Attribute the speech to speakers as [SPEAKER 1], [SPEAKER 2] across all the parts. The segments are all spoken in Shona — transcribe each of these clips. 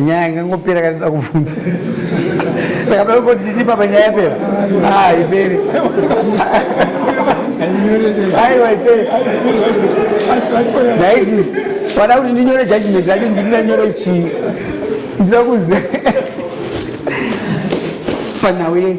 [SPEAKER 1] nyaya ingangopera kanisa kubvunza saka pave kuti titi papa nyaya yapera ah, ipere aiwa ipere naisis pada kuti ndinyore judgment racho ndinanyore chii ndinokuze panhau yei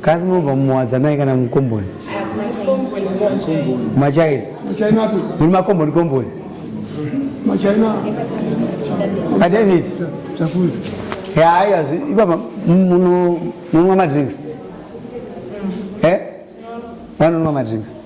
[SPEAKER 1] Kazi mobva muwadzanai kana mukomboni? Machaina. Machaina api? Muri
[SPEAKER 2] makomboni komboni. Machaina.
[SPEAKER 1] A David.
[SPEAKER 2] Takuri. Ya haya
[SPEAKER 1] ibaba muno munwa madrinks. Eh? Vanonwa madrinks.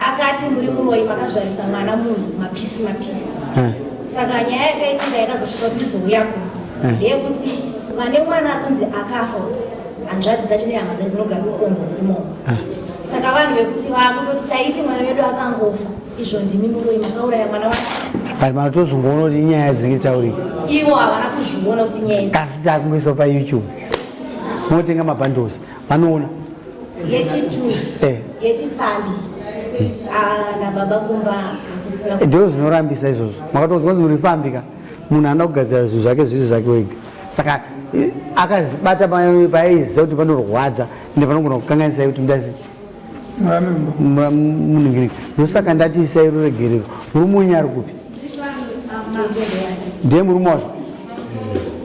[SPEAKER 1] akati
[SPEAKER 3] muri muroyi makazvarisa mwana munhu mapisi mapisi eh. saka nyaya yakaitika yakazosvika kuti ndizouya kuno eh. ndeyekuti vane mwana akunzi akafa hanzvadzi dzacho nehama dzacho dzinogara mukombo imomo eh. saka vanhu vekuti vakutoti taiti mwana wedu akangofa izvo ndimi muroyi makauraya mwana wa but matozongoona
[SPEAKER 1] kuti inyaya dzinge taurika ivo havana
[SPEAKER 3] kuzviona kuti nyaya asi takungoisa
[SPEAKER 1] payoutube motenga mabhandles Anoona. Yechitu.
[SPEAKER 3] Eh. Yechipfambi. Ah, na baba kumba akusina. Eh, Ndo zvinorambisa
[SPEAKER 1] izvozvo. Makatonzwa kuti muri fambi ka. Munhu anoda kugadzira zvinhu zvake zviri zvake wega. Saka eh, akazibata paaiziva kuti panorwadza ende panogona kukanganisai kuti ndazi muningirika ndosaka ndati isai ruregerero murume wenyu ari kupi ndiye murume wacho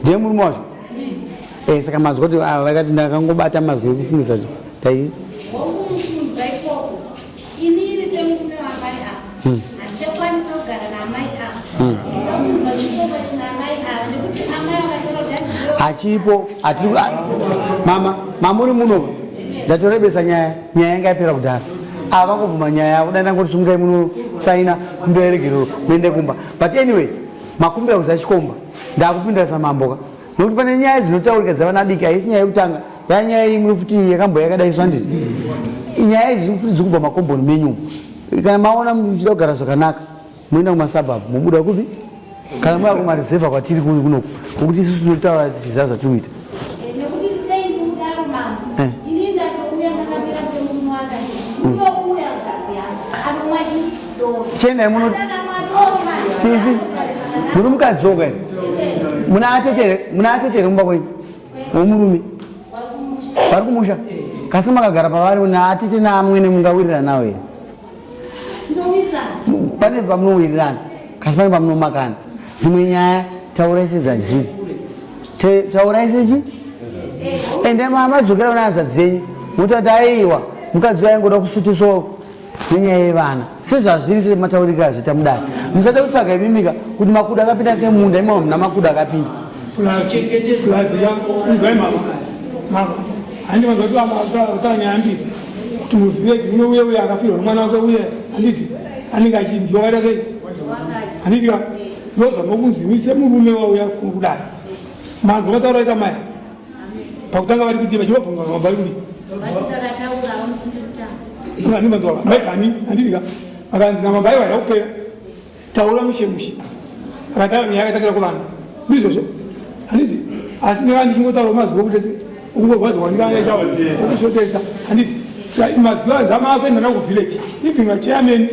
[SPEAKER 1] ndiye murume wacho Eh, saka mazwi kuti ah, vakati ndakangobata mazwi ekufungisa dai hachipo mama mamuri muno ndatorebesa nyaya nyaya yanga yapera kudhara ava vakubvuma nyaya yavo dai ndangoti sumukai muno saina kumbira yeregerero muende kumba but anyway makumbira kuzachikomba ndakupindirisa mamboka nokuti pane nyaya dzinotaurika dzavana adiki haisi nyaya yekutanga yaa nyaya imwe futi yakambo yakadaiswa ndii nyaya idzi futi dziri kubva makomboni menyu kana maona muchida kugara zvakanaka moenda kumasabab mobuda kupi kana moya kumareseva kwatiri kuri kunoku nokuti isusu tinotaura tichiziva zvatiri kuita chenai muno sisi muri mukadzi woka muna atetere muna atetere kumba kwenyu womurume vari kumusha kasi makagara pavari naatete naamwene mungawiriranawo here pane pamunowirirana kasi pane pamunomakana dzimwe nyaya taurai sedzadziri taurai sechi ende mama dzokera kuna hanzvadzi dzenyu motati aiwa mukadzi waingoda kusutiswa nenyaya yevana sezvazviri semataurike azvita mudare musada kutsvaga imimika kuti makuda akapinda semunda imama muna makuda akapinda
[SPEAKER 2] ndozvanokunzimise murume wauya kudare manzwa mataura ita maya pakutanga vari kuti vachivabvunza mabhaibuli vandivanzwa maigani andidika akanzi namabhaibuli aida kupera taura mushe mushe akataura nyaya akatakira kuvanhu ndizvozvo handiti asi ndikanga ndichingotaura mazuva okutese okungorwadziwa ndikaaokushotesa handiti mazwi anzama akuenda navo kuvillage even vachairman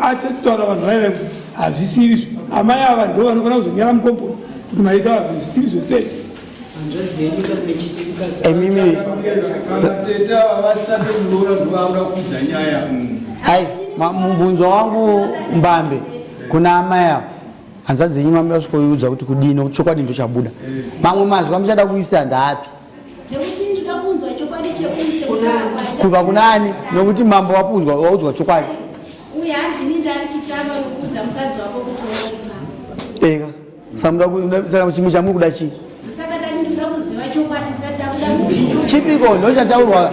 [SPEAKER 2] atitaura vanhu vaiva kuti hazvisiri izvo amai ava ndo vanofanira kuzonyara mukomboni kuti maita vazvo zvisiri zvese imimi
[SPEAKER 1] hai mubvunzo wangu mbambe kuna amai ava hanzadzi yenyu mamira kusvikoiudza kuti kudini chokwadi ndochabuda mamwe mazwi amuchada kuisa ndaapi kubva kuna ani nokuti mambo wapunzwa waudzwa chokwadi eka saka chimwe chamuri kuda chii chipiko ndo chataurwa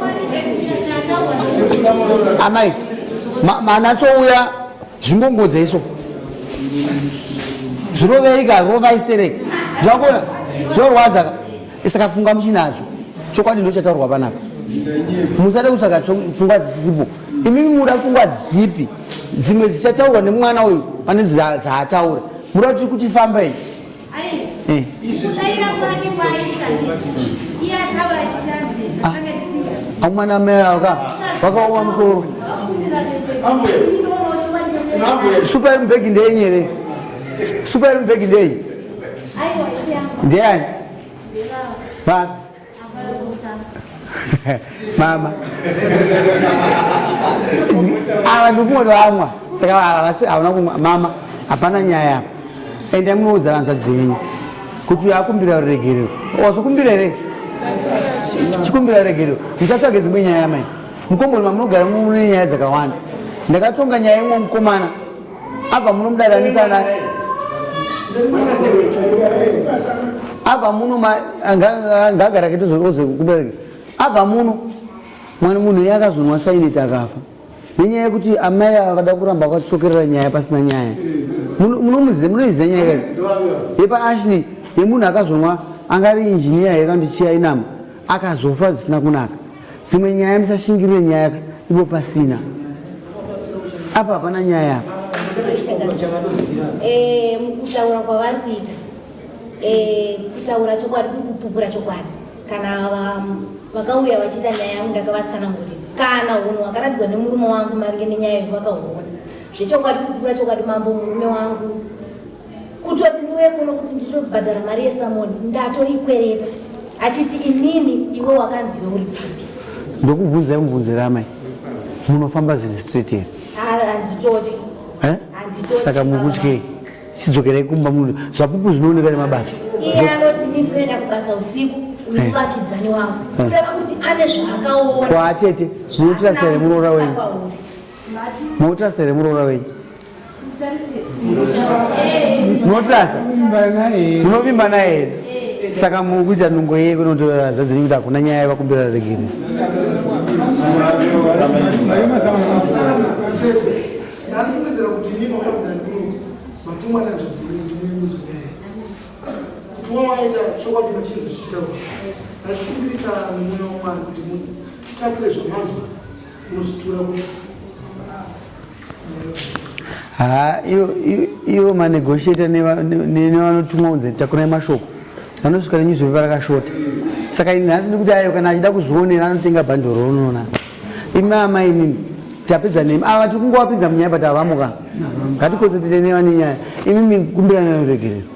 [SPEAKER 1] amai manatsouya zvingongodza iso zviroveika rovaistereki zvakona zvorwadzaka saka pfungwa muchinadzo chokwadi ndochataurwa panapa musade kutsvaga pfungwa dzisisipo imimi muda pfungwa dzipi dzimwe dzichataurwa nemwana uyu pane dzaataura muda kuti kuti famba iyi eh. ah. akumana mai avo ka vakaoma musoro super mbegi ndeyenyere super mbegi ndeyi Ndiani? Baba. Mama. Ava ndokumwe vamwa. Saka havasi havana kumwa mama hapana nyaya apa. Enda munoudza vanzwa dzenyu. Kuti yakumbira ruregerero. Wazokumbira here? Chikumbira ruregerero. Musatsvage dzimwe nyaya mai. Mukomboni mamunogara mune nyaya dzakawanda. Ndakatonga nyaya imwe mukomana. Abva munomudaranisa na Abva muno ma ngagara kitu zoze kubereke. Abva muno mwana munhu yakazonwa saini takafa. Nenyaya yekuti amai avada kuramba vatsokerera nyaya pasina nyaya. Munomuziva munoiziva nyaya kazi. Yepa Ashley yemunhu akazonwa angari engineer here kandichiya inama akazofa zvisina kunaka. dzimwe nyaya musashingirire nyaya ka ipo pasina apa hapana nyaya apa eh,
[SPEAKER 3] kutaura kwavari kuita eh, kutaura chokwadi kukupupura chokwadi kana vakauya vachiita nyaya yangu ndakavatsanangurira kana hunhu hwakaratidzwa nemurume wangu maringe nenyaya yevakahuona zvechokwadi kukupura chokwadi mambo murume wangu kutoti ndiuye kuno kuti nditobhadhara mari yesamoni ndatoikwereta achiti inini iwe wakanzi iwe uri pfambi ndokubvunzai
[SPEAKER 1] mubvunzo ramai munofamba zviri straight here handitotyi
[SPEAKER 3] eh?
[SPEAKER 1] saka mukutyei chidzokerai kumba muno zvapupu zvinooneka nemabasa iye anoti ni
[SPEAKER 3] tinoenda kubasa usiku eh. muvakidzani wangu eh. kureva kuti ane zvaakaona kwaatete
[SPEAKER 1] munotrasta remuroora wenyu munotrasta remuroora wenyu munotrasta munovimba naye here saka mukuita nungo yeye kunotora zvadziri kuti hakuna nyaya yevakumbira regere
[SPEAKER 4] kuti haa
[SPEAKER 1] ivo manegotiator nevanotumwa kunze takurai mashoko vanosvika nenyuzipepa rakashota saka ini nhasi ndikuti ayo kana achida kuzvionera anotenga bhandoro unoona imi amai inini tapedza nemi ava tiri kungowapinza munyaya but havamuka ngatikonzertete neva nenyaya imi mikumbirana noregerero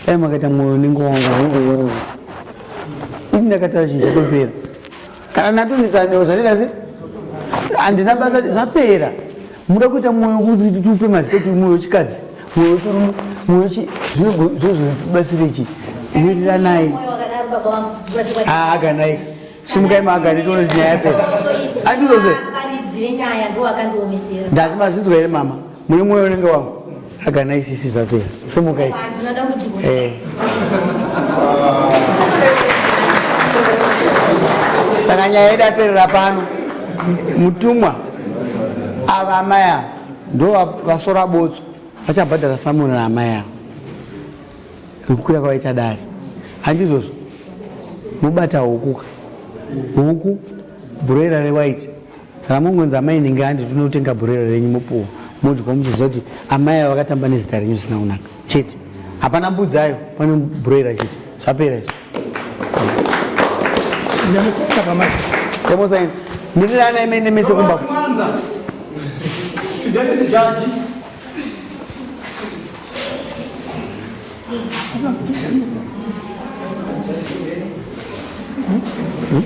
[SPEAKER 1] dai makaita mwoyo unenge wangu ini ndakatara chinhu chatopera kana natonetsanewo zvatenda se handina basa zvapera muda kuita mwoyo kuti tupe mazita kuti mwoyo chikadzi zvinobatsira chi miriranai aganai simukai magani tione nyaya yapera andiroze ndati mazvinzwa here mama mune mwoyo unenge wangu agana isisi zvapera simukai eh. saka nyaya yedu aperera pano mutumwa ava amai ava ndo vasora botso vachabhadhara samona naamai avo rikukwira kwavaita dare handizvozvo mobata hukuka huku bhuroira rewaiti ramongonzi amai inenge handi tinotenga bhuroira renyu mopuwa modya muchiziva kuti amai avo vakatamba nezita renyu zvisina kunaka chete hapana mbudzi ayo pane broiler chete zvapera izvo emosaini mirirana imene mese kumba kuti Hmm?